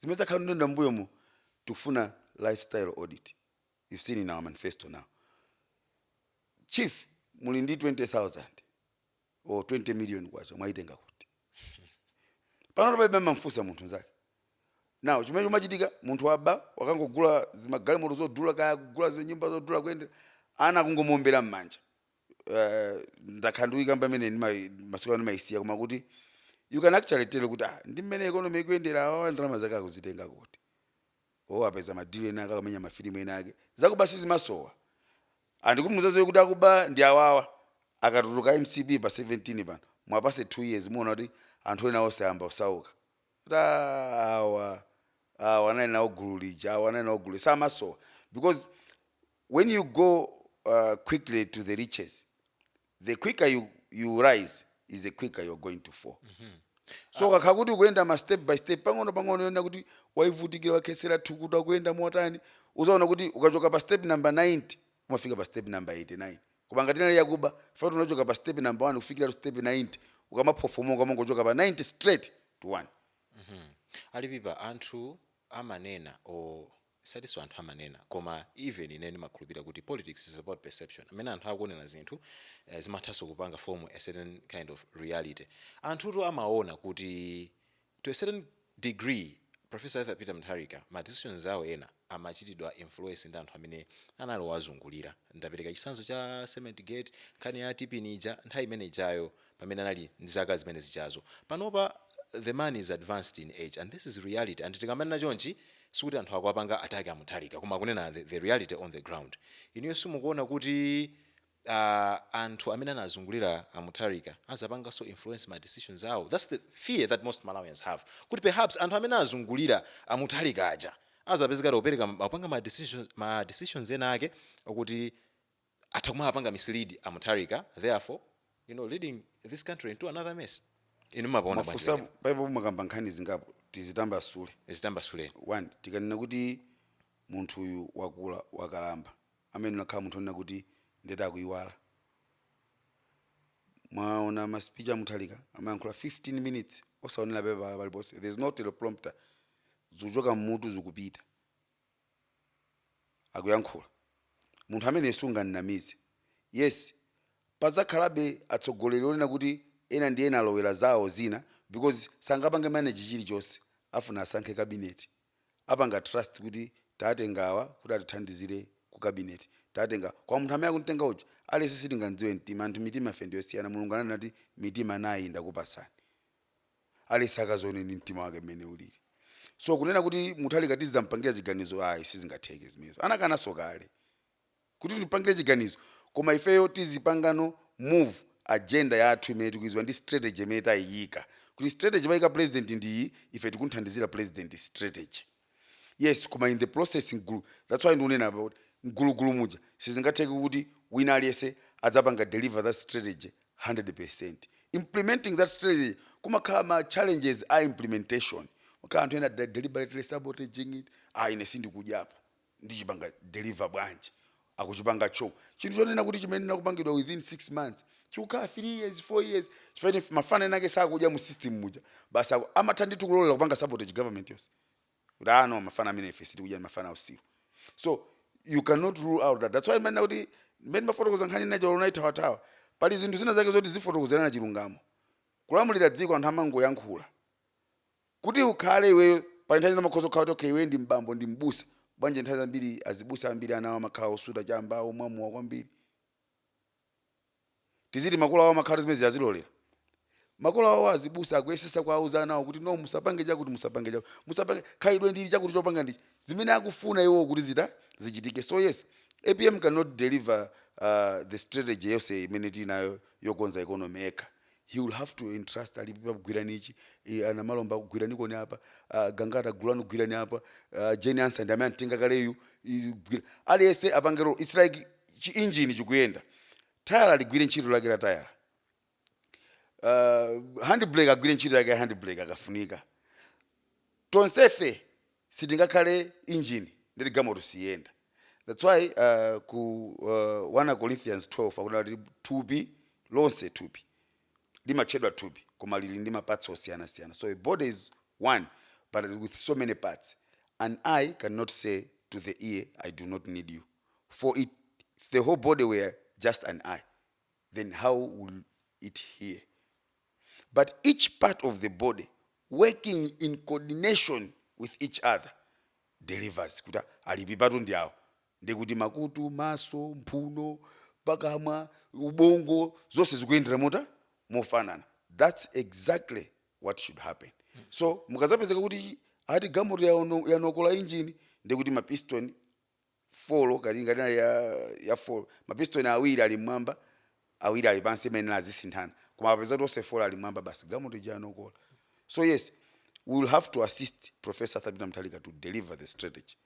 zimene takhala nazo mbuyomo tikufuna lifestyle audit you've seen in our manifesto now chief muli ndi 20000 or 20 million kwacha mwayitenga kuti pano palibe amamfunsa munthu nzake now chimene chimachitika munthu waba wakangogula zimagalimoto zodula kaya kugula zinyumba zodula koma anthu akungomuombera m'manja eh, ndakhala ndikuyikamba imene ndimai- masiku ano ndimayisiya koma kuti you can actually tell kuti ah, ndi mmene economy ikuyendera awa ndalama zake akuzitenga kuti apeza madilu ena ake akamenya mafilimu ena ake zakuba sizimasowa and mukuti muzaziwe kuti akuba ndi awawa akatuluka mcp pa 17 pano muwapase 2 years muona kuti anthu ena onse ayamba kusauka kuti "Ah, awa awa anali nawo gulu lija awa anali nawo gulu samasowa because When you go quickly to the riches, the quicker you, you rise is the quicker you're going to fall. So ukakhala kuti ukuyenda ma step by step pang'ono pang'ono yonena kuti waivutikira wakhetsera thukuta ukuyenda motani uzaona kuti ukachoka pa step number 90 umafika pa step number 89 koma ngati inali yakuba fati unachoka pa step number 1 kufikira to step 90 ukamaphofomoka umangochoka pa 90 straight to 1 ali pipa anthu amanena o Osatinso anthu amanena koma even ineyo ndimakhulupirira kuti politics is about perception. Mmene anthu akuonera zinthu zimathanso kupanga form a certain kind of reality. Anthutu amaona kuti to a certain degree Professor Arthur Peter Mutharika ma decisions awo ena amachitidwa influence ndi anthu amene anali owazungulira. Ndapereka chitsanzo cha cement gate, nkhani ya TPIN ija nthawi imene ijayo. pamene anali ndi zaka zimene zijazo. Panopa the man is advanced in age and this is reality and tikamanena chonchi sikuti anthu akuwapanga attack a Mutharika koma kunena the the reality on the ground. Inuyo simukuona kuti aah anthu amene anazungulira a Mutharika azapanganso influence ma decisions awo? That's the fear that most Malawians have kuti perhaps anthu amene azungulira a Mutharika aja azapezeka ali opereka akupanga ma decisions ma decisions ena ake okuti atha kumawapanga mislead a Mutharika therefore you know leading this country into another mess. Inu mumapaona bwanji mafunso pamenepa? apo- apapo mwakamba nkhani zingapo tizitambasule Zitambasuleni. one tikanena kuti munthu uyu wakula wakalamba amayenera akhale munthu onena kuti nde wayamba kuyiwala mwaona ma speech a Mutharika amayankhula 15 minutes osaonera pepala paliponse there is no teleprompter zikuchoka mmutu zikupita akuyankhula munthu ameneyo sungamnamize yes pazakhalabe atsogoleri onena kuti ena ndi ena alowera zawo zina because sangapange manage chilichonse afuna asankhe cabinet apanga trust kuti tatenga awa kuti atithandizire ku cabinet tatenga koma munthu amene akuntenga uja aliyense sitingamdziwe mtima anthu mitima ife ndiyosiyana mulungu ananena kuti mitima nayi ndakupasani aliyense akazione ndi mtima wake mmene ulili so kunena kuti mutharika tizampangira chiganizo ayi sizingatheke zimenezo anakanaso kale kuti tipangire chiganizo koma ifeyo tizipangano move agenda yathu imene tikuiziwa ndi strategy imene tayiyika kuti strategy wayika president ndiyi ife tikunthandizira president strategy yes koma in the process mgulu that's why ndikunena apa kuti mgulugulu muja sizingatheke kuti wina aliyense adzapanga deliver that strategy 100% implementing that strategy kumakhala ma challenges a implementation makhala anthu ena de- deliberately sabotaging it ah ine sindikudyapo ndichipanga deliver bwanji akuchipanga choke chinthu chonena kuti chimayenera kupangidwa within 6 months chikukhala 3 years 4 years chifukwa ine mafana ena ake sakudya mu system muja basi aku- amatha ndithu kulolera kupanga sabotage government yonse kuti ah no mafana amene ife sitikudya ndi mafana autsiru so you cannot rule out that that's why manena kuti mmene mafotokoza nkhani ina cholo naithawathawa pali zinthu zina zake zoti zifotokozerana chilungamo kulamulira dziko anthu amangoyankhula Kuti ukhale iweyo, pali nthawi zina umakhoza kukhala kuti okay iweyo ndi m'bambo ndi m'busa, bwanji nthawi zambiri azibusa ambiri ana awo amakhala osuta chamba, omwa mowa kwambiri, tiziti makolo awo amakhala kuti zimenezi azilolera? Makolo awo azibusa akuyesesa kuwauza ana awo kuti no musapange chakuti musapange chakuti, musapange, khalidwe ndi ili chakuti chopanga ndi ichi, zimene akufuna iwowo kuti zita, zichitike. So yes, apm can not deliver the strategy yonse imene tili nayo yokonza economy yekha. he will have to entrust alipipa gwirani ichi eh, ana malomba gwirani koni apa ah, gangata gulani gwirani apa ah, jane ansah ndi amene antenga kaleyu i- gwira- aliyense apange role its like chi engine chikuyenda tayala ligwire ntchito lake la tayala uh, handbrake agwire ntchito yake ya handbrake akafunika tonsefe sitingakhale engine ndeti gamoto siyenda that's why uh, ku uh, 1 corinthians 12 akunena kuti thupi lonse thupi limatchedwa thupi koma lili ndi ma parts osiyanasiyana so a body is one but with so many parts an eye cannot say to the ear i do not need you for it, if the whole body were just an eye then how will it hear? But each part of the body working in coordination with each other delivers kuti alipipatu ndi awo ndi kuti makutu maso mphuno pakamwa ubongo zonse zikuyendera mota mofanana that's exactly what should happen so mukazapezeka kuti ati gamoto yaono- yanokola injini ndi kuti mapiston folo ngati ngati inali ya ya folo mapistoni awiri ali mmwamba awiri ali pansi imayenera azisinthana koma apeza kuti onse folo ali mmwamba basi gamoto ija yanokola so yes we will have to assist professor Arthur Peter Mutharika to deliver the strategy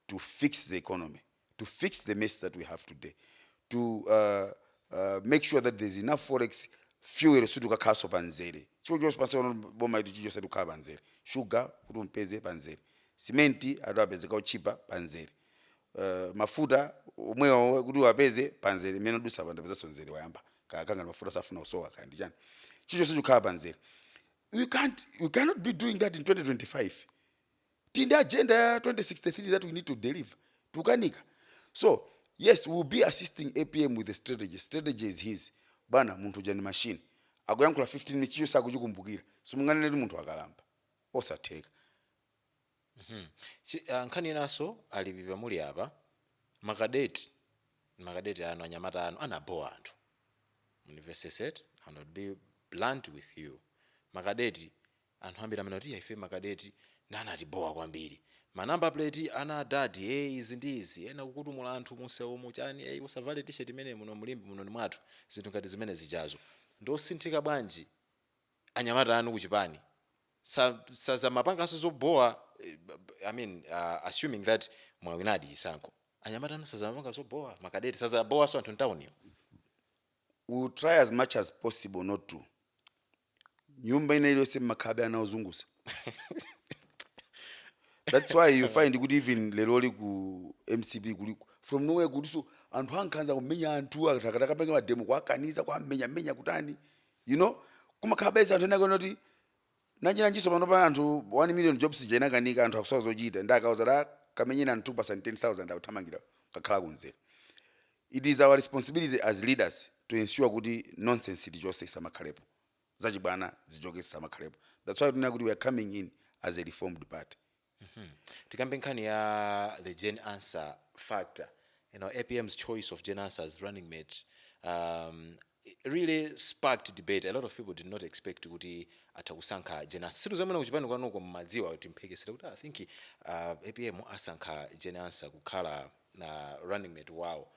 to fix the economy to fix the mess that we have today to make sure that there's enough forex fuel sikuti ukakhalaso pa nzere chili chonse pansi pano boma iti chili chonse tikukhala pa nzere sugar kuti umpeze pa nzere cement atapezeka otchipa pa nzere uh, mafuta omwewo kuti uwapeze pa nzere mmene udusa pa ndapezanso nzere wayamba kaya kukanganirana mafuta safuna kusowa kaya ndi chani chili chonse chikukhala pa nzere we can't you cannot be doing that in 2025 tili ndi agenda ya 2063 that we need to deliver tukanika so yes we will be assisting apm with the strategy strategy is his bwana munthu uja ndi machine akuyankhula 15 minutes chiliyonse sakuchikumbukira simunganene kuti munthu akalamba osatheka Chi- ah, nkhani inanso a Lipipa muli apa makadeti makadeti anu anyamata anu anabowa anthu universities eti and I'll be blunt with you makadeti Anthu ambiri amanena kuti ife ma cadet nde anatibhowa kwambiri. Ma number plate ana a dad ee izi ndi izi, ena kukutumula anthu munsewumu chani ee usavale t-shirt imeneyi muno mu Limbe muno ndi mwathu. Zinthu ngati zimene zijazo. Ndi osinthika bwanji anyamata anu ku chipani sa sazamapanganso zobhowa i mean assuming that mwawinadi chisankho anyamata anu sazamapanga zobhowa ma cadet sazabhowanso anthu ntawuniyo? Will try as much as possible not to. nyumba ina iliyonse mmakhalabe ana ozungusa that's why you find kuti even leroli ku mcp kuli from nowhere kuliso anthu ankhanza kumenya anthu akati akapange mademo kuwakaniza kuwamenyamenya kutani you know kumakhalabe anthu ena oti kuti nanjiranjinso pano pa anthu 1 million jobs ija inakanika anthu akusowa zochita nde akawauza kuti kamenyeni anthu pa 10000 akuthamangira kukakhala kunzera It is our responsibility as leaders to ensure kuti nonsense tichose isamakhalepo, zachibwana zichoke zisamakhalepo that's why tinena kuti we are coming in as a reformed party. tikambe nkhani ya the jane answer factor you know, apm's choice of jane answer as running mate um, really sparked debate, a lot of people did not expect kuti atha kusankha Jane Ansah. Sindidziwa mwina kuchipani kwanuko mmadziwa kuti mphekesera kuti I think uh, APM asankha Jane Ansah kukhala na running mate wawo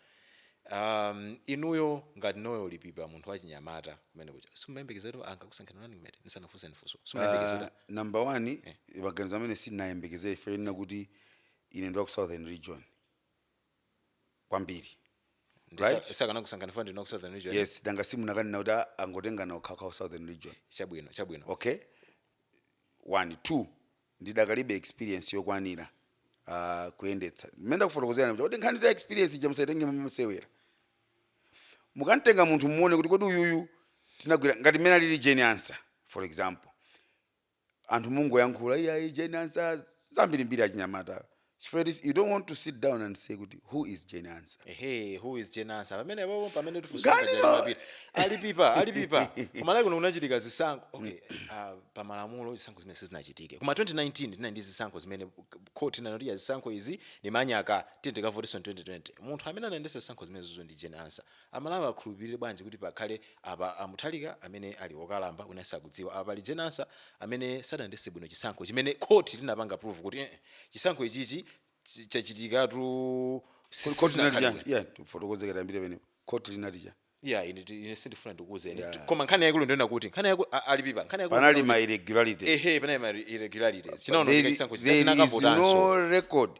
um, inuyo ngati Noel Lipipa munthu wachinyamata kumene kuja simumayembekeza kuti angakusankhani running mate nisanafunse nifunso simumayembekeza kuti Uh, number one eh. maganizo amene sindinayembekezere ife yenena kuti ine ndi wa ku southern region kwambiri Ndi sa- right sakanakusankhani fana ndinu wa ku southern region yes danga simukananena kuti a- angotengana okhaokhawo southern region chabwino chabwino okay one two ndidakalibe experience yokwanira uh, kuyendetsa mmene ndakufotokozerani kuti kodi nkhani ya experience ija musayitenge mmasewera mukantenga munthu muone kuti kodi uyuyu tinagwira ngati mmene alili Jane Ansah for example anthu mungoyankhula iyayi Jane Ansah zambirimbiri achinyamata chifukwa choti you don't want to sit down and say kuti who is Jane Ansah ehe who is Jane Ansah pamene papo pamene tifunsira Ngani ngati lo- alipita alipipa alipipa ku Malawi kuno kunachitika zisankho okay ah, pa malamulo zisankho zimene zinachitike koma 2019 tinali ndi zisankho zimene court inanoti ya zisankho izi ndi manyaka tiyeni tikavotenso 2020 munthu amene anayendesa zisankho zimenezizo ndi Jane Ansah Amalawi akhulupilire bwanji kuti pakhale apa a Mutharika amene ali okalamba wina sakudziwa. Apa pali Jane Ansah amene sadayendese bwino chisankho chimene court linapanga prove kuti eeh chisankho ichichi chachitikatu Kodi court linati sichinakhale chani? bwino. Iyani tifotokoze kaye tiyambire pamenepa. Court linati chani? Iyayi ine ti- ine sindifuna ndikuuzeni Yeah. Ti- koma nkhani yaikulu ndiyonena kuti nkhani yaikulu a- ali pipa nkhani yaikulu Panali ndiyonena ma kuti- irregularities. ehe panali ma irregularities There, chinaonongeka chisankho chija there is chinakavotanso. no record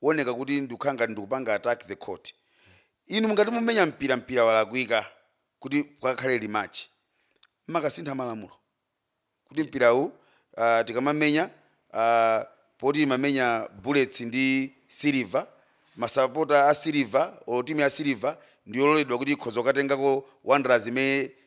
kuoneka kuti ndikukhala ngati ndikupanga attack the court inu mungati mumenya mpira mpira walakwika kuti pakakhale rematch mmakasintha malamulo kuti mpirawu uh, tikamamenya uh, poti imamenya bullets ndi silver masapota a silver olo timu ya silver ndiyololedwa kuti ikhoza kukatengako wanderers imene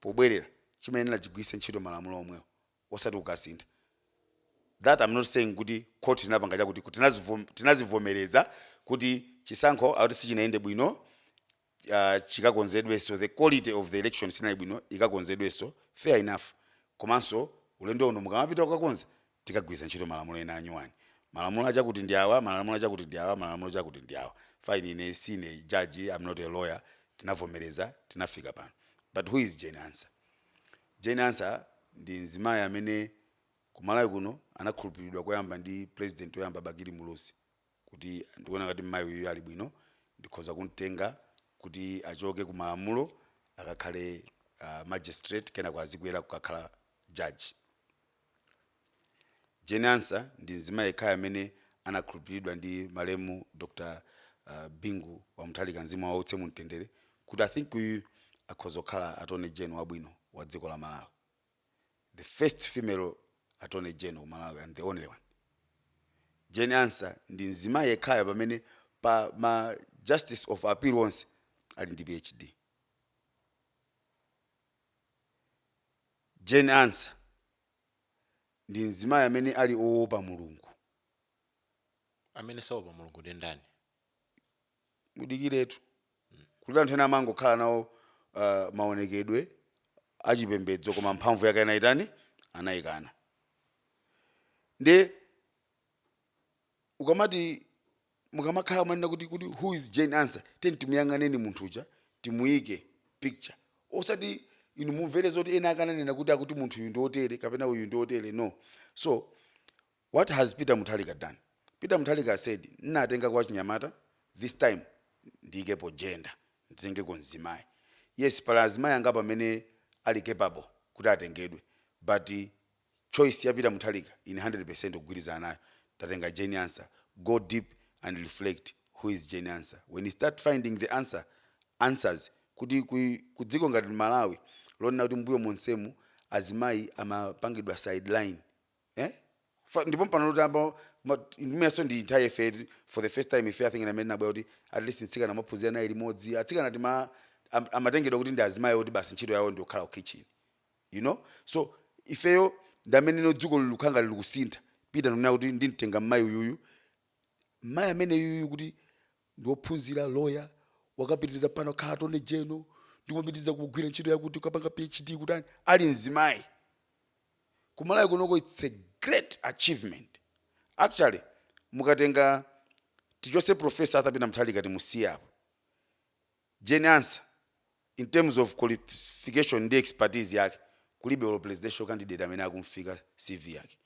pobwerera chimayenera chigwiritse ntchito malamulo omwewo osati kukasintha that I am not saying kuti court linapanga chakuti kuti tinazivom- tinazivomereza kuti chisankho akuti sichinayende bwino uh, chikakonzedwenso the quality of the election sinali bwino ikakonzedwenso fair enough komanso ulendo uno mukamapita kukakonza tikagwiritse ntchito malamulo ena anyuwani. Malamulo achakuti ndi awa, malamulo achakuti ndi awa, malamulo chakuti ndi awa. Fine, ine sine judge, I'm not a lawyer, tinavomereza, tinafika pano. But who is Jane Ansah? Jane Ansah ndi mzimayi amene ku Malawi kuno anakhulupiriridwa koyamba ndi President oyamba Bakili Muluzi kuti ndikuona ngati mmayi uyu ali bwino, ndikhoza kumtenga kuti achoke ku malamulo akakhale uh, magistrate kenako azikwera kukakhala judge. Jane Ansah ndi mzimayi yekhayo amene anakhulupiliridwa ndi malemu Dr Bingu wa Mutharika mzimu uuse mu mtendere kuti I think uyu akhoza kukhala Attorney General wabwino wa dziko la Malawi. The first female Attorney General ku Malawi and the only one. Jane Ansah ndi mzimayi yekhayo pamene pa ma Justice of Appeal onse ali ndi PhD. Jane Ansah ndi mzimayi amene ali owopa Mulungu. Amene saopa Mulungu ndi ndani? Mudikiretu. Kuli anthu ena amangokhala nawo uh, maonekedwe achipembedzo koma mphamvu yake anaitani? Anaikana. Ndi ukamati mukamakhala kumanena kuti kuti who is Jane Ansah tiyeni timuyang'aneni munthu uja timuyike picture osati inu mumvere zoti ena akananena kuti akuti munthu uyu ndi otere kapena uyu ndi otere no so what has Peter Mutharika done Peter Mutharika said nnatenga kwa chinyamata this time ndiyikepo gender nditengeko mzimayi yes pali azimayi angapo amene ali capable kuti atengedwe but choice ya peter mutharika ine 100% kugwirizana nayo tatenga jane ansah go deep and reflect who is jane ansah when you start finding the answer answers kuti ku, ku dziko ngati malawi lonena kuti mbuyo monsemu azimayi amapangidwa sideline eh? Fa- ndipo mpake loyamba imenenso ndi nthawi ife for the first time I think mmene inabwera kuti at least mtsikana amaphunzira nayi limodzi atsikana tima am- amatengedwa kuti ndi azimayi oti basi ntchito yawo ndi yokhala ku kitchen you know so ifeyo ndi mmeneno dziko likukhala ngati likusintha peter ndikunena kuti ndimtenga mmayi uyuyu mmayi amene uyuyu kuti ndiophunzira lawyer wakapitiliza pano wakhala attorney general ndikumapitiriza kugwira ntchito yakuti ukapanga phd kutani ali mzimayi kumalawi kunoko its a great achievement actually mukatenga tichotse professor arthur peter mutharika timusiye apo Jane Ansah in terms of qualification ndi expertise yake kulibe olo presidential candidate amene akumfika CV yake.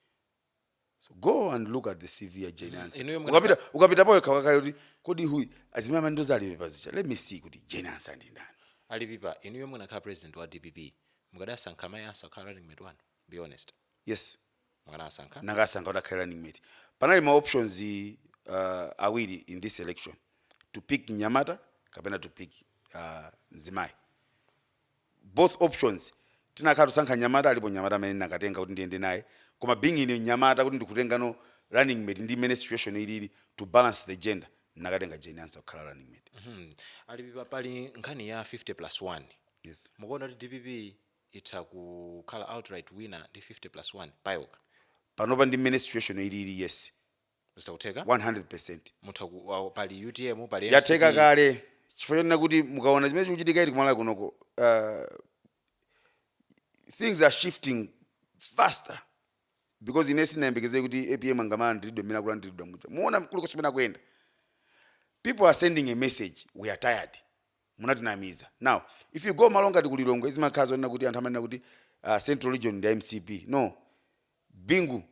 So go and look at the CV ya Jane Ansah. Inuyo mukana- Ukapita ukapita pawekha ukakhale kuti kodi uyu azimayi amene amaendorser a Lipipa ndi chani. Let me see kuti Jane Ansah ndi ndani. a Lipipa inuyo mukanakhala president wa dpp mukadasankha mayi Ansah kukhala running mate wanu be honest Yes. Mukanasankha. nnakasankha kuti akhale running mate panali ma options uh, awiri in this election to pick mnyamata kapena to pick uh, mzimayi both options ndinakakhala ndikusankha mnyamata alipo mnyamata amene ndinakatenga kuti ndiyende naye koma being ine mnyamata kuti ndikutengano running mate ndi mmene situation ilili to balance the gender ndinakatenga jane ansah kukhala running mate Mhm. a Lipipa pali nkhani ya 50 plus 1 yes mukuona kuti dpp itha kukhala outright winner ndi 50 plus 1 payokha. panopa ndi mmene situation yo ilili yes Zitha kutheka 100%. mutha ku, awo, pali utm pali mcp. yatheka kale chifukwa chonena kuti mukaona chimene chikuchitika ichi kumalawi kunoko uh, things are shifting faster because ine sinayembekezere kuti apm angamalandiridwe mmene akulandiridwa muja mwaona kulikonse kumene akuyenda people are sending a message we are tired munatinamiza now if you go malo ngati ku Lilongwe zimakhala zonena kuti anthu amanena kuti uh, central region ndi mcp no bingu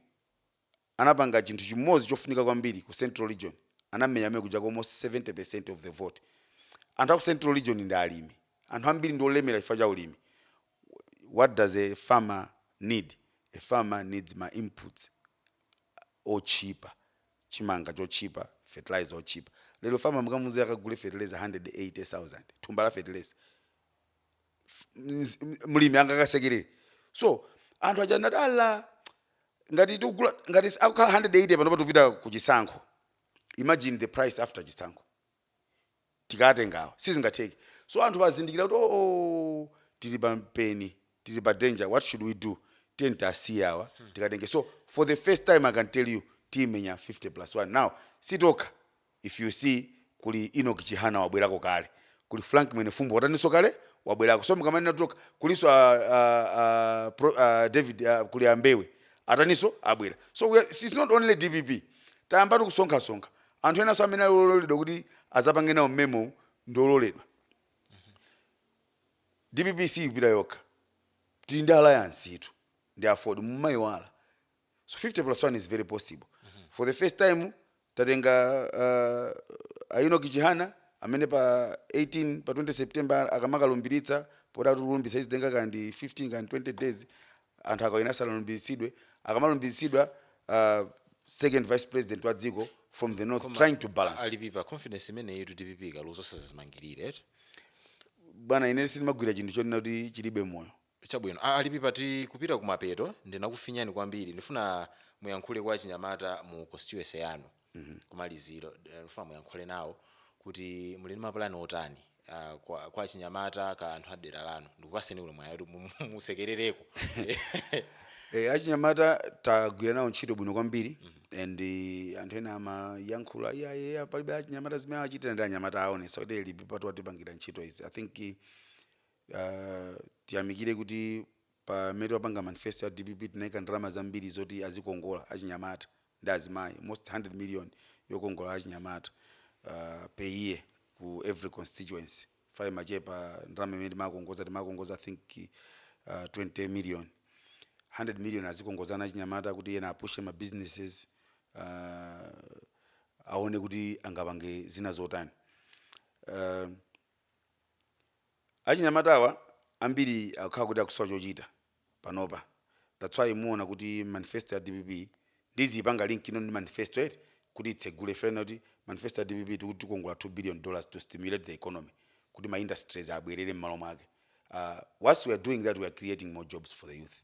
anapanga chinthu chimodzi chofunika kwambiri ku central region anamenya mmene kuja almost 70% of the vote anthu aku central region ndi alimi anthu ambiri ndi olemera chifukwa cha ulimi what does a farmer need a farmer needs ma inputs otchipa chimanga chotchipa fertilizer otchipa lero farmer mukamuuze akagule fertilizer 180000 thumba la fertilizer F- mz- m- mlimi angakasekerere so anthu aja ndati ala ngati tikugula ngati akukhala 180 panopa tikupita ku chisankho imagine the price after chisankho tikatenga awa sizingatheke so anthu azindikira kuti oo tili pa mpeni tili pa danger what should we do tiyeni tiasiye awa tikatenge so for the first time i can tell you tiyimenya 50 plus 1 now sitokha if you see kuli Enoch Chihana wabwerako kale kuli frank mwenefumbo wataninso kale wabwerako so mukamanena tokha kulinso a, a, a, pro, a, david a, kuli ambewe ataninso abwera so we are, it's not only dpp tayambatu kusonkhasonkha Anthu enanso amene ali ololedwa kuti azapange nawo mmemowu ndi ololedwa. Dpp siipita yokha. Tili ndi alliance itu ndi aford mumaiwala. So 50 plus 1 is very possible. For the first time tatenga uh, a Enoch Chihana amene pa 18 pa 20 September akamakalumbiritsa poti akulumbiritsa izitenga kandi 15 kandi 20 days anthu akawina asanalumbiritsidwe akamalumbiritsidwa uh, second vice president wa dziko from the north trying to balance a Lipipa confidence imeneyitu dpp kaluzo sazazimangirire eti bwana ine sindimagwira chinthu chonena kuti chilibe moyo chabwino A- a Lipipa tikupita kumapeto ndinakufinyani kwambiri ndifuna muyankhule kwa achinyamata mu constituency yanu kumaliziro ndifuna muyankhule nawo kuti muli ndi mapulani otani ah, kwa, kwa achinyamata ka anthu a dera lanu ndikupaseni uno mwayi kuti mu- mu- musekerereko Eh, achinyamata tagwira nawo ntchito bwino kwambiri and eh, anthu ena amayankhula iyayeya palibe achinyamata zimene achitira ndi anyamata aonesa kuti Lipipatu watipangira ntchito izi i think eh, tiyamikire kuti Pamene timapanga manifesto ya dpp tinaika ndalama zambiri zoti azikongola achinyamata ndi azimayi almost 100 million yokongola achinyamata per year ku every constituency chifukwa imachepa ndalama imene timakongoza timakongoza I think 20 million 100 million azikongozana achinyamata kuti ena apushe ma businesses aone kuti angapange zina zotani. Achinyamatawa ambiri akukhala kuti akusowa chochita panopa that's why muona kuti manifesto ya dpp ndiziipanga link ino ndi manifesto yathu kuti itsegule pena kuti manifesto ya dpp tikuti tikongola 2 billion dollars to stimulate the economy kuti ma industries abwerere mmalo mwake uh, whilst we are doing that we are creating more jobs for the youth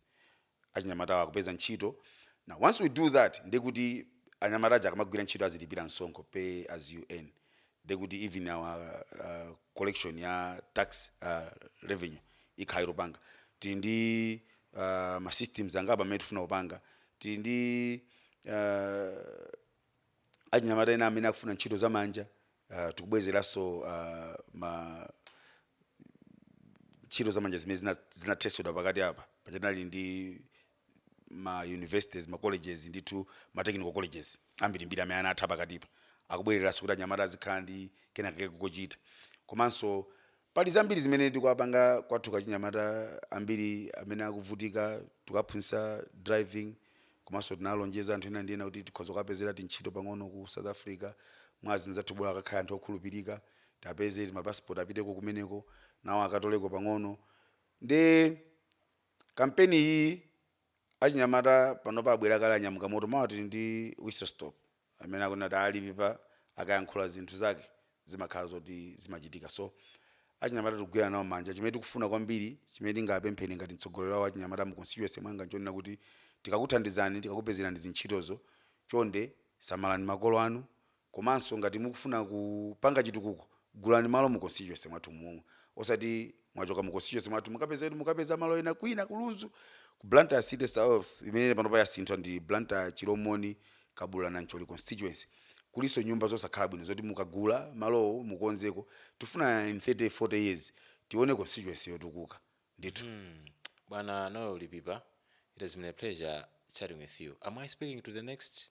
achinyamatawa akupeza ntchito now once we do that ndiye kuti anyamata aja akamagwira ntchito azilipira msonkho pay as you earn ndiye kuti even our uh, collection ya tax uh, revenue ikhala ito- panga tili ndi uh, ma systems angapo amene tifuna kupanga tili ndi uh, achinyamata ena amene akufuna ntchito za manja uh, tikubwezeranso uh, ma ntchito za manja zimene zina- zinathetsedwa pakati apa paja tinali ndi ma universities ma colleges ndithu ma technical colleges ambirimbiri amene anatha pakatipa akubwereranso kuti anyamata azikhala ndi kenakake kochita komanso Pali zambiri zimene tikuwapanga kwathu kwa achinyamata ambiri amene akuvutika tikuwaphunzitsa driving komanso tinalonjeza anthu ena ndi ena kuti tikhoza kuwapezera tintchito pang'ono ku South Africa mwa azinzathu bola akakhale anthu okhulupirika tiapeze ma passport apiteko kumeneko nawo akatoleko pang'ono nde kampeni iyi Achinyamata panopa abwera kale anyamuka moto mawa tili ndi whistle stop amene akunena kuti a Lipipa akayankhula zinthu zake zimakhala zoti zimachitika so achinyamata tikugwirana nawo manja chimene tikufuna kwambiri chimene tingapempheni ngati mtsogoleri wa achinyamata mu constituency mwanga nchonena kuti tikakuthandizani tikakupezerani zintchitozo chonde samalani makolo anu komanso ngati mukufuna kupanga chitukuko gulani malo mu constituency mwathu momwe osati mwachoka mu constituency mwathu mukapeza malo ena kwina ku Lunzu ku Blantyre city south imene panopa yasinthwa ndi Blantyre Chilomoni Kabula Nancholi constituency kulinso nyumba zosakhala bwino zoti mukagula malowo mukonzeko tifuna in 30 40 years tione constituency yotukuka ndithu Hmm. Bwana Noel Lipipa, it has been a pleasure chatting with you. Am I speaking to the next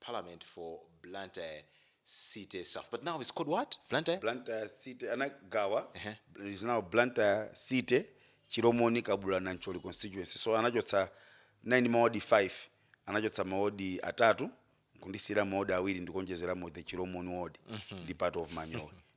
parliament for Blantyre city south but now it's called what Blantyre? Blantyre city anagawa uh-huh. is now Blantyre city Chilomoni Kabula Nancholi constituency so anachotsa tinali mawadi 5 anachotsa mawadi atatu nkundisiira mawadi awiri ndikuonjezeramo the Chilomoni ward mm -hmm. ndi part of Manyowe